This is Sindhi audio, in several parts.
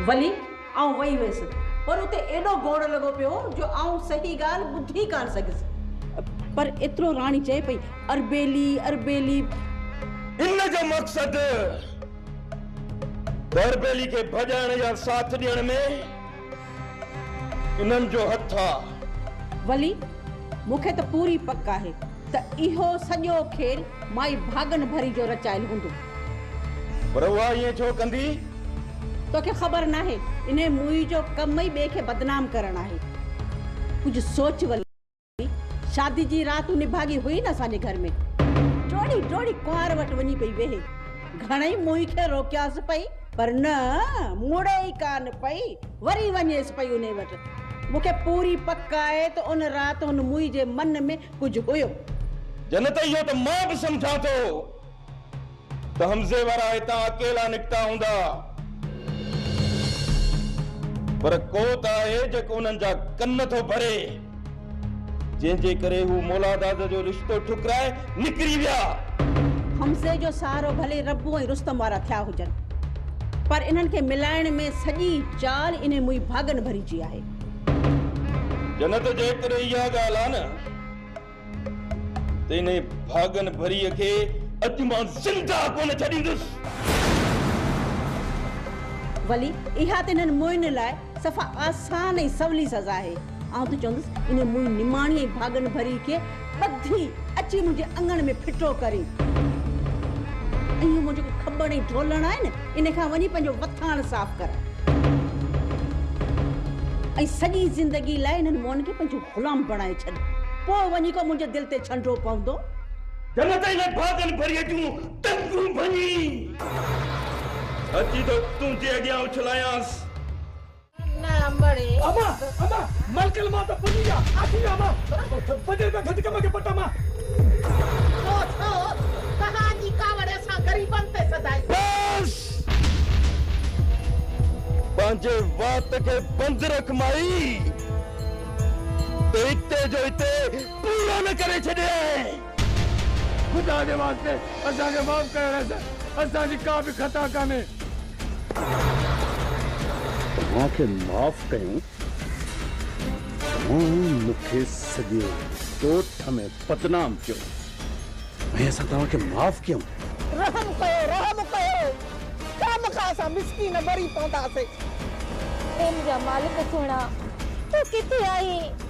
ولي آئون وئي هيس پر اتي ايڏو گوڙ لڳو پيو هو جو آئون صحيح ڳالهه ٻڌي ڪانه سگهيس. پر ايترو راڻي چئي پئي، اربيلي! اربيلي! ان جو مقصد ته اربيلي کي ڀڄائڻ يا ساٿ ڏيڻ ۾ انهن جو هٿ آ. ولي، مون کي ته پوري پڪ آهي. ته اهو سڄو کيل مائي ڀاڳن ڀري جو رچايل هوندو. پر اها ائين ڇو ڪندي؟ توکي خبر ناهي. انهيء موئي جو ڪم ئي ٻئي کي بدنام ڪرڻ آهي. ڪجهه سوچ ولي. شادي جي رات تون نڀاڳي هئين اسان جي گهر ۾. ڊوڙي ڊوڙي ڪنوار وٽ وڃي پئي ويهي. گهڻئي موئي کي روڪيانس پئي پر نه مڙي ئي ڪانه پئي. وري وڃيس پئي انهيء وٽ. مون کي پوري پڪ آهي ته ان رات هن موئي جي من ۾ ڪجهه هيو. جنت اهو ته مان به سمجهان ٿو ته حمزي وارا هتان اڪيلا نڪتا هوندا پر ڪو ته آهي جيڪو انهن جا ڪن ٿو ڀري جنهن جي ڪري هو مولاداد جو رشتو ٺڪرائي نڪري ويا. حمزي جو سهارو ڀلي ربو ۽ رستم وارا ٿيا هجن پر انهن کي ملائڻ ۾ سڄي چال انهي موئي ڀاڳن ڀري جي آهي. جنت جيڪڏهن اها ڳالهه آ نه ته انهي ڀاڳن ڀريء کي اڄ مان زنده ڪونه ڇڏيندس. ولي، اها ته انهن موئن لاء صفا آسان ۽ سولي سزا آهي. آئون ته چوندس انهي موئن نماڻي ۽ ڀاڳن ڀريء کي ٻڌي اچي منهنجي اڱڻ ۾ ڦٽو ڪرين. اهو منهنجو جيڪو کٻڻ ۽ ڍولڻ آهي نه ان کان وڃي پنهنجو وٿاڻ صاف ڪر. ۽ سڄي زندگي لاء انهن موئن کي پنهنجو غلام بڻائي ڇڏ. پوء وڃي ڪو منهنجي دل تي ڇنڊو پوندو. جنت ۽ انهن باغن ڀريء جون ٽنگون ڀڃي. اچي ٿو تنهنجي اڳيان اڇلايانس. پنهنجي وات کي بند رک مائي ته اتي جو اتي پورو نه ڪري ڇڏيائين. خدا جي واسطي اسان کي معاف ڪري رهه سر اسان جي ڪا به خطا ڪانهي. اوهان کي معاف ڪيون اوهان مون کي سڄي ڳوٺ ۾ بدنام ڪيو ۽ اسان توهان کي معاف ڪيون. رحم ڪيو رحم ڪيو خامخا اسان مسڪين مري پونداسين. ٻين جا مالڪ سهڻا تون ڪٿي آهين.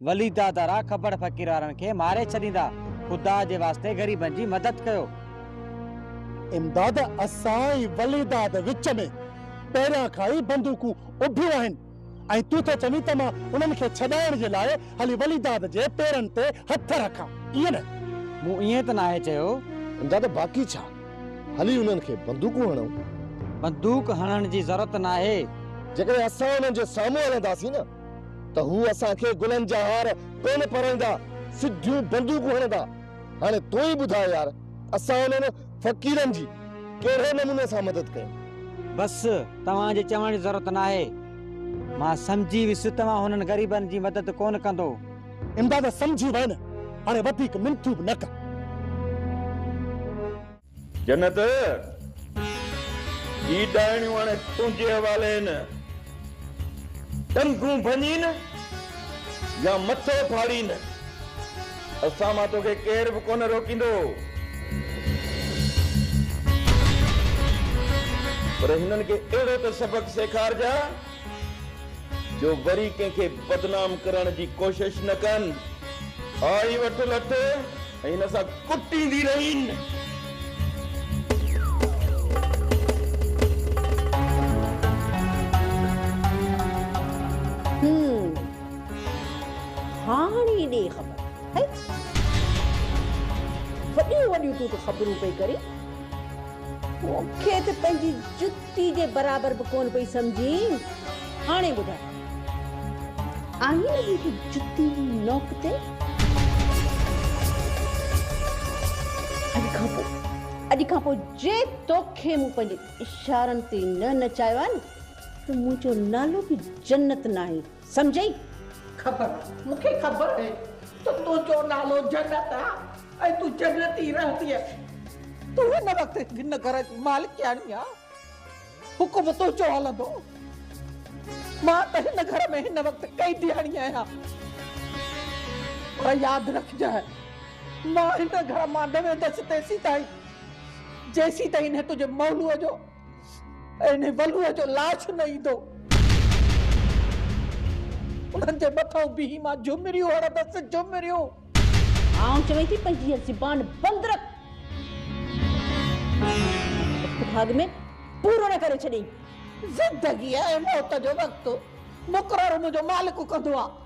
ولي دادا را کبڙ فقير وارن کي ماري ڇڏيندا خدا جي واسطي غريبن جي مدد ڪيو. امداد اسان ۽ ولي داد وچ ۾ پهريان کان ئي بندوقون اڀيون آهن ۽ تون ٿو چوين ته مان انهن کي ڇڏائڻ جي لاء هلي ولي داد جي پيرن تي هٿ رکان ائين نه؟ مون ائين ته ناهي چيو. امداد باقي ڇا هلي انهن کي بندوقون هڻون. بندوق هڻڻ جي ضرورت ناهي. جيڪڏهن اسان انهن جي سامهون هلنداسين نه ته هو اسان کي گلن جا هار ڪونه پرائيندا، سڌيون بندوقون هڻندا. هاڻي تون ئي ٻڌاء يار، اسان انهن فقيرن جي ڪهڙي نموني سان مدد ڪيون؟ بس، توهان جي چوڻ جي ضرورت ناهي. مان سمجهي ويس توهان هنن غريبن جي مدد ڪونه ڪندو. امداد سمجهي وئين، هاڻي وڌيڪ منٿون به نه ڪر. جنت! هي ڏائڻيون هاڻي تنهنجي حوالي هن. ٽنگون ڀڃين يا مٿو ڦاڙين، اسان مان توکي ڪير به ڪونه روڪيندو. پر هنن کي اهڙو ته سبق سيکارجان. جو وري ڪنهن کي بدنام ڪرڻ جي ڪوشش نه ڪن. آء ئي وٺ لٺ ۽ هن سان ڪٽيندي رهين. هم. هاڻي ڏي خبر. هي. وڏيون وڏيون تون ته خبرون پئي ڪرين. مون کي ته پنهنجي جت. ٽي جي برابر به ڪونه پئي سمجهين هاڻي ٻڌاء. آهين جي هي جتي نوڪ تي. اڄ کان پوء اڄ کان پوء جي توکي مون پنهنجي اشارن تي نه نچايو آهي نه ته منهنجو نالو به جنت ناهي. سمجهئي؟ خبر آهي، مون کي خبر آهي ته تنهنجو نالو جنت آهي ۽ تون جنت ئي رهنديء. تون هن وقت هن گهر جي مالڪياڻي آهين، حڪم تنهنجو هلندو. مان ته هن گهر ۾ هن وقت قيدياڻي آهيان. پر ياد رکجانء، مان هن گهر مان نه ويندس تيسيتائين، جيسيتائين هن تنهنجي مولوء جو انهي ولوء جو لاش نه ايندو. انهن جي مٿئون بيهي مان جهمريون هڻندس، جهمريون! آئون چوين ٿي پنهنجي هيء زبان بند رک. وقت ڀاڳ ۾ پورو نه ڪري ڇڏين. زندگيء ۽ موت جو وقت مقرر منهنجو مالڪ ڪندو آ.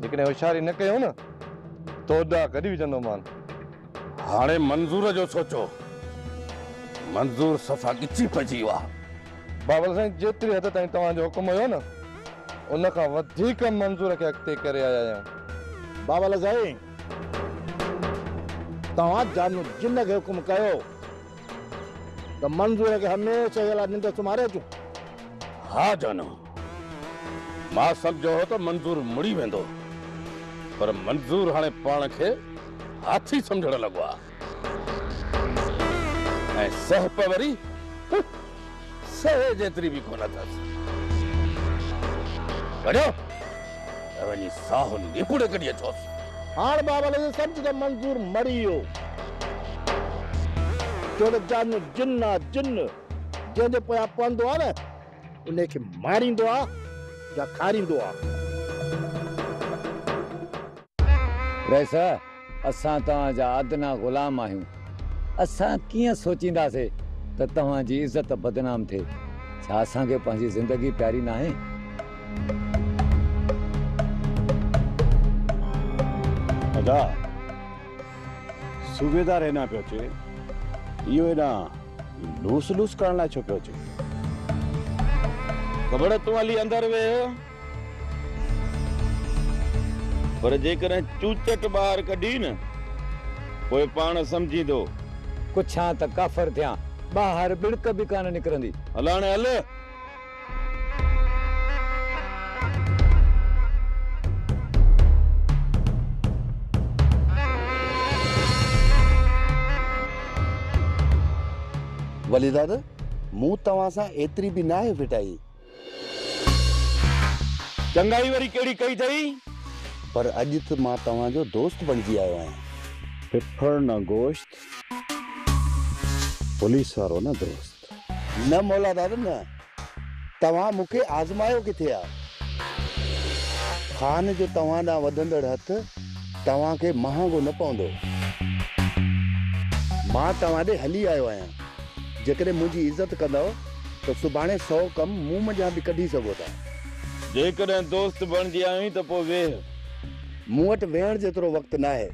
جيڪڏهن هوشياري نه ڪيون نه ته ادا ڪڍي وجهندومان. هاڻي منظور جو سوچو. منظور صفا ڳچي پئجي ويو آهي. بابل سائين جيتري حد تائين توهان جو حڪم هيو نه ان کان وڌيڪ منظور کي اڳتي ڪري آيا آهيون. بابل سائين توهان جان جن کي حڪم ڪيو ته منظور کي هميشه جي لاء ننڊ سمهاري اچون. ها جانو. مان سمجهيو هو ته منظور مڙي ويندو پر منظور هاڻي پاڻ کي هاٿي سمجهڻ لڳو آهي ۽ سهپ وري سهي جيتري به ڪونه اٿس. وڃو ته وڃي ساهو نيپوڙي ڪڍي اچوس. هاڻ بابا لڳي سمجهه ته منظور مڙي ويو ڇو ته جانو جن آ جن جنهن جي پويان پوندو آ نه انهي کي ماريندو آ يا کاريندو آ. رئيس! اسان توهان جا ادنيٰ غلام آهيون. اسان ڪيئن سوچينداسي ته توهان جي عزت بدنام ٿئي. ڇا اسان کي پنهنجي زندگي پياري ناهي؟ ادا! صوبيدار هيڏانهن پيو اچي. اهو هيڏانهن لوس لوس ڪرڻ لاء ڇو پيو اچي؟ کبڙ تون هلي اندر ويهه. پر جيڪڏهن چوچٽ ٻاهر ڪڍين نه پوء پاڻ سمجهيندو. ڪڇان ته ڪافر ٿيان. ٻاهر ٻڻڪ به ڪانه نڪرندي. هلاڻي هل. ولي دادا مون توهان سان ايتري به ناهي ڦٽائي. چڱائي وري ڪهڙي ڪئي اٿئي؟ پر اڄ تھ مان توهان جو دوست بڻجي آيو آهيان. ڦڦڙ نه گوشت پوليس وارو نه دوست. نه مولا داد نه! توهان مون کي آزمايو ڪٿي آ؟ خان جو توهان ڏانهن وڌندڙ هٿ توهان کي مهانگو نه پوندو. مان توهان ڏي هلي آيو آهيان. جيڪڏهن منهنجي عزت ڪندؤ ته سڀاڻي سؤ ڪم مون منجهان به ڪڍي سگهو ٿا. جيڪڏهن دوست بڻجي آيوئين ته پوء ويهه. مون وٽ ويهڻ جيترو وقت ناهي.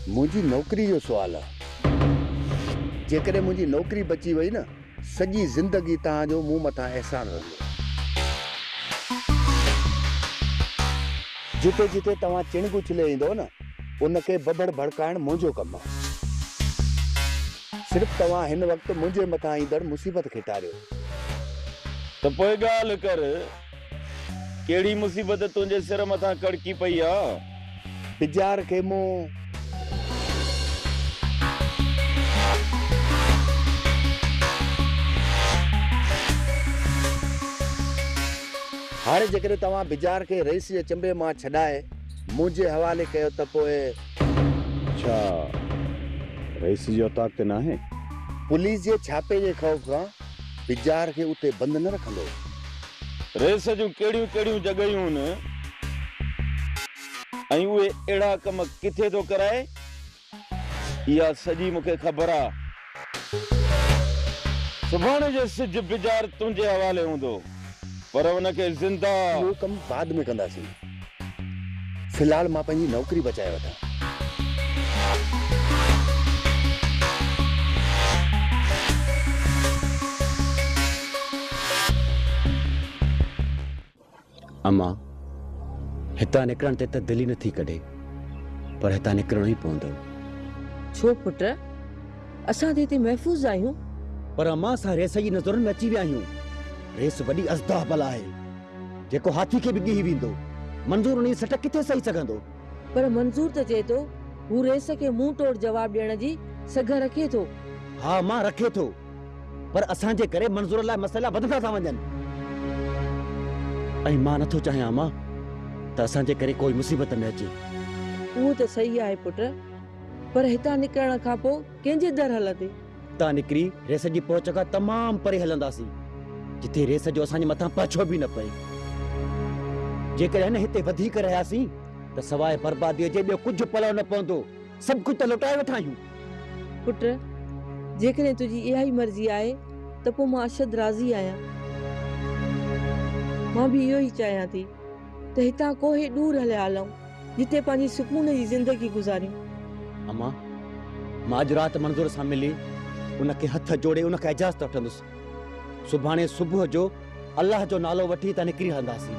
منهنجي نوڪري جو سوال آ. جيڪڏهن منهنجي نوڪري بچي وئي نه سڄي زندگي توهان جو مون مٿان احسان رهندو. جتي جتي توهان چڻگ اڇلي ايندؤ نه ان کي ببڙ ڀڙڪائڻ منهنجو ڪم آهي. صرف توهان هن وقت منهنجي مٿان ايندڙ مصيبت کي ٽاريو. ته پوء ڳالهه ڪر. ڪهڙي مصيبت تنهنجي سر مٿان ڪڙڪي پئي آ. بجار کي مون. هاڻي جيڪڏهن توهان بجار کي رئيس جي چنبي مان ڇڏائي منهنجي حوالي ڪيو ته پوء. ڇا رئيس جي اوطاق تي ناهي؟ پوليس جي ڇاپي جي خوف کان. پجار کي اتي بند نه رکندو. ريس جون ڪهڙيون ڪهڙيون جڳهيون هن ۽ اهي اهڙا ڪم ڪٿي ٿو ڪرائي اها سڄي مون کي خبر آ. سڀاڻي جو سج پجار تنهنجي حوالي هوندو پر ان کي زنده. اهو ڪم بعد ۾ ڪنداسين. في الحال مان پنهنجي نوڪري بچائي وٺان. اما، هتان نڪرڻ تي ته دل ئي نٿي ڪڍي، پر هتان نڪرڻو ئي پوندو. ڇو پٽ؟ اسان ته هتي محفوظ آهيون. پر اما، اسان ريس جي نظرن ۾ اچي ويا آهيون. ريس وڏي ازدهه بلا آهي. جيڪو هاٿي کي به ڳهي ويندو. منظور انهيء سٽ ڪٿي سهي سگهندو؟ پر منظور ته چئي ٿو، هو رئيس کي منهن ٽوڙ جواب ڏيڻ جي سگهه رکي ٿو. ها مان رکي ٿو، پر اسان جي ڪري منظور لاء مسئلا وڌندا ٿا وڃن. ۽ مان نٿو چاهيان امان ته اسان جي ڪري ڪوئي مصيبت ۾ اچي. اهو ته سهي آهي پٽ، پر هتان نڪرڻ کان پوء ڪنهن جي در هلندي؟ اتان نڪري ريس جي پهچ کان تمام پري هلنداسين، جتي ريس جو اسان جي مٿان پاڇو به نه پئي. جيڪڏهن هتي وڌيڪ رهياسين ته سواء برباديء جي ٻيو ڪجهه پلئه نه پوندو. سڀ ڪجهه ته لوٽائي وٺا آهيون. پٽ! جيڪڏهن تنهنجي اها ئي مرضي آهي ته پوء مان اشد راضي آهيان. مان به اهو ئي چاهيان ٿي ته هتان ڪوهي ڏور هليا هلئون. جتي پنهنجي سڪون جي زندگي گذاريون. اما، مان اڄ رات منظور سان ملي ان کي هٿ جوڙي ان کان اجازت وٺندس. سڀاڻي صبح جو الله جو نالو وٺي هتان نڪري هلنداسين.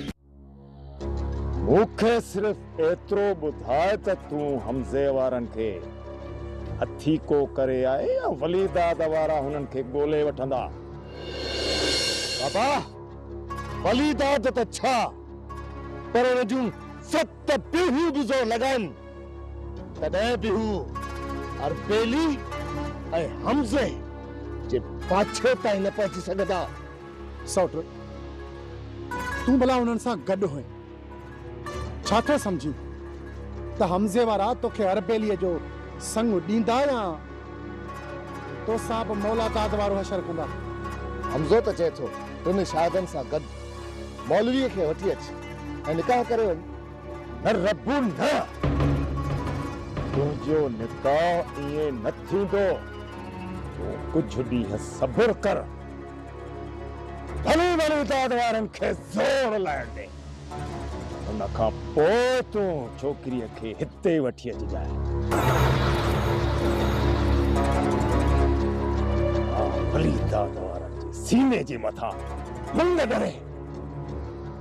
مون کي صرف ايترو ٻڌاء ته تون حمزي وارن کي هٿيڪو ڪري آئي يا وليداد وارا هنن کي ڳولي وٺندا؟ بابا، وليداد ته ڇا پر ان جون ست پيڙهيون به زور لڳائن، تڏهن به هو اربيلي ۽ حمزي جي پاڇي تائين نه پهچي سگهندا. سئوٽ، تون ڀلا انهن سان گڏ هئين، ڇا ٿو سمجهين ته حمزي وارا توکي اربيليء جو سڱ ڏيندا يا تو سان به مولا داد وارو حشر ڪندا؟ حمزو ته چئي ٿو، ٽن شاهدن سان گڏ مولويء کي وٺي اچ ۽ نڪاح ڪري وڃ. نه ربّ نه! تنهنجو نڪاح ائين نه ٿيندو. تون ڪجهه ڏينهن صبر ڪر. ڀلي ڀلي داد وارن کي زور لائڻ ڏي. ان کان پوء تون ڇوڪريء کي هتي وٺي اچجانء. ها ڀلي داد وارن جي سيني جي مٿان منڱ ڳري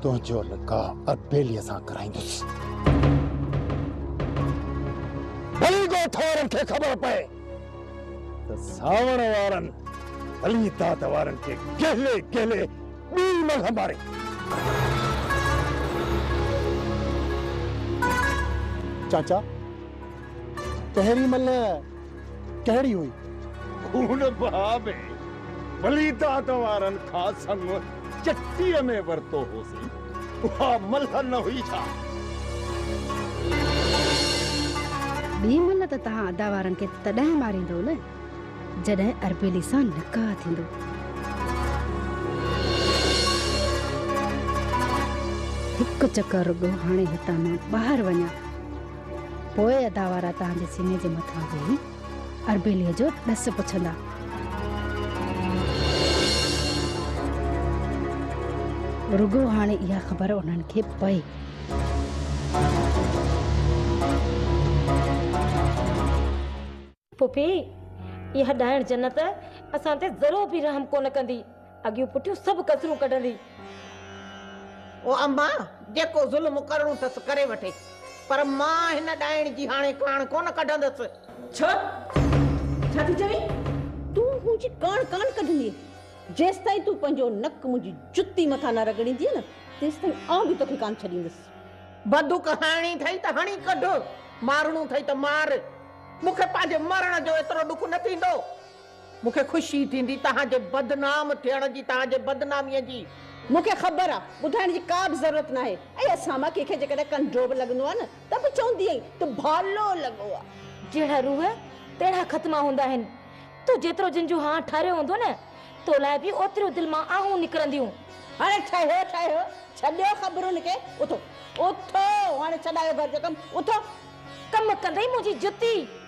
تنهنجو نڪاح اربيليء سان ڪرائيندس. ڀلي ڳوٺ وارن کي خبر پئي. ته ساوڻ وارن علي داد وارن کي ڪهلي ڪهلي ٻي ملهه ماري. چاچا پهرين ملهه ڪهڙي هئي؟ خون بها ۾ علي داد وارن کان سڱو. چٽيء ۾ ورتو هوسين، اها ملهه نه هئي ڇا؟ ٻي ملهه ته توهان ادا وارن کي تڏهن ماريندؤ نه، جڏهن اربيلي سان نڪاح ٿيندو. هڪ چڪر رڳو هاڻي هتان مان ٻاهر وڃان، پوء ادا وارا توهان جي سيني جي مٿان ويهي اربيليء جو ڏس پڇندا. رڳو هاڻي اها خبر انهن کي پئي. ڦڦي، اها ڏائڻ جنت اسان تي ذرو به رحم ڪونه ڪندي. اڳيون پٺيون سڀ ڪسرون ڪڍندي. او اما! جيڪو ظلم ڪرڻو ٿس ڪري وٺي، پر مان هن ڏائڻ جي هاڻي ڪاڻ ڪونه ڪڍندس. ڇا؟ ڇا ٿي چوين؟ تون منهنجي ڪاڻ ڪانه ڪڍندينء، جيستائين تون پنهنجو نڪ منهنجي جتي مٿان نه رڳڙيندينء نه، تيستائين آئون به توکي ڪانه ڇڏيندس. بدوڪ هڻڻي ٿئي ته هڻي ڪڍ، مارڻو ٿئي ته مار، مون کي پنهنجي مرڻ جو ايترو ڏک نه ٿيندو. مون کي خوشي ٿيندي توهان جي بدنام ٿيڻ جي توهان جي بدناميء جي. مون کي خبر آ ٻڌائڻ جي ڪا به ضرورت ناهي ۽ اسان مان ڪنهن کي جيڪڏهن ڪنڊو به لڳندو آ نه ته به چوندي آهين ته ڀالو لڳو آ. جهڙا روح تهڙا ختما هوندا آهن. تو جيترو جن جو هان ٺهريو هوندو نه تو لاء به اوتريون دل مان آهون نڪرنديون. هاڻي ٺهيو ٺهيو ڇڏيو خبرن کي اٿو اٿو هاڻي ڇڏايو گهر جو ڪم اٿو. ڪم ڪندئي منهنجي جتي.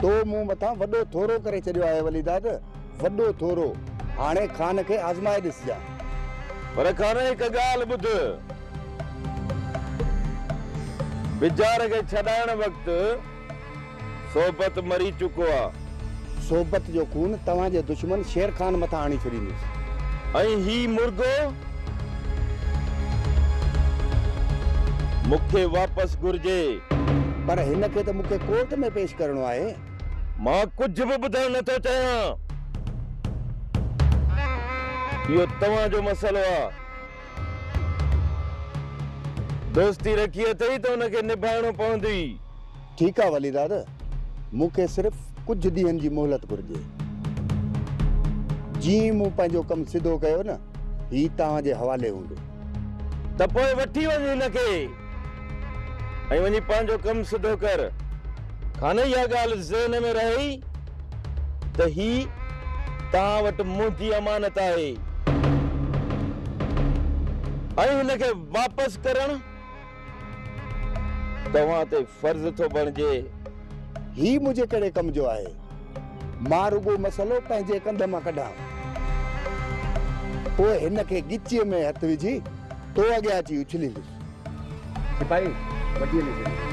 تو مون مٿان وڏو ٿورو ڪري ڇڏيو آهي وليداد، وڏو ٿورو. هاڻي خان کي آزمائي ڏسجان. پر خان هڪ ڳالهه ٻڌ. بجار کي ڇڏائڻ وقت صحبت مري چڪو آ. صحبت جو خون توهان جي دشمن شير خان مٿان هڻي ڇڏيندس. ۽ هي مرغو؟ مون کي واپس گهرجي. پر هن کي ته مون کي ڪورٽ ۾ پيش ڪرڻو آهي. مان ڪجهه به ٻڌڻ نه ٿو چاهيان. اهو توهان جو مسئلو آهي. دوستي رکي اٿئي ته ان کي نڀائڻو پوندئي. ٺيڪ آ ولي داد، مون کي صرف ڪجهه ڏينهن جي مهلت گهرجي. جيئن ئي مون پنهنجو ڪم سڌو ڪيو نه، هي توهان جي حوالي هوندو. ته پوء وٺي وڃ هن کي ۽ وڃي پنهنجو ڪم سڌو ڪر. کانئن اها ڳالهه ذهن ۾ رهئي ته هي توهان وٽ منهنجي امانت آهي ۽ هن کي واپس ڪرڻ توهان تي فرض ٿو بڻجي. هي منهنجي ڪهڙي ڪم جو آهي. مان رڳو مسئلو پنهنجي ڪنڌ مان ڪڍان. پوء هن کي ڳچيء ۾ هٿ وجهي تو اڳيان اچي اڇليندس. سپاهي وڍيء ۾ گهڙي.